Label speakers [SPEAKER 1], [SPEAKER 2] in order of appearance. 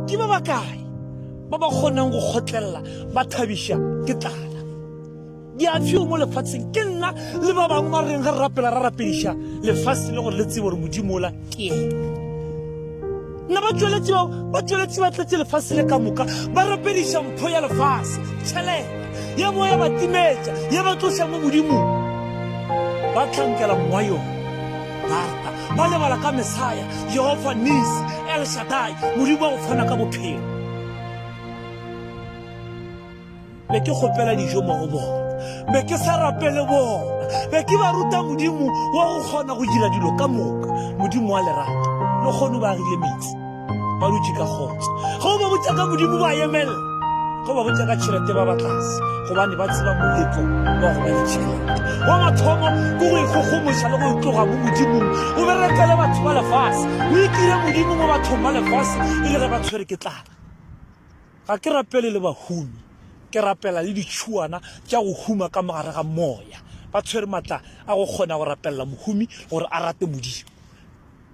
[SPEAKER 1] ke ba ba kae ba ba kgonang go kgotlelela ba thabiša ke tlala di a fiwa mo lefatsheng ke nna le ba bangwe ba reng ga re rapela ra rapediša lefatshe le gore le tsebo gore modimo ola ke ene nna ba tšweletsi bao ba tšweletsi ba tletse lefatshe le ka moka ba rapediša mpho ya lefatshe tšhelete ya bo ya ba timetša ya ba tloša mo modimong ba tlhankela mowa yone Marta ba lebala ka Mesaya, Jehofa Nisi, El Shaddai, Modimo wa go fana ka bophelo. Be ke kgopela dijo mo go bona, be ke sa rapele bona, be ke ba ruta Modimo wa go kgona go dira dilo ka moka, Modimo wa lerato, le kgono ba agile metsi. Ba dutše ka kgotso. Ge o ba botša ka Modimo ba emelela. Ge o ba botša ka tšhelete ba ba tlase gobane ba tseba moletlo wa go ba le tšhelete. Wa mathomo ke go ikgogomoša le go tloga mo Modimong o be retele batho ba lefase. O itire Modimo mo bathong ba lefase e le ge ba tshwere ke tlala. Ga ke rapele le bahumi, ke rapela le ditšhuana tša go huma ka mo gare ga moya. Ba tshwere matla a go kgona go rapelela mohumi gore a rate Modimo.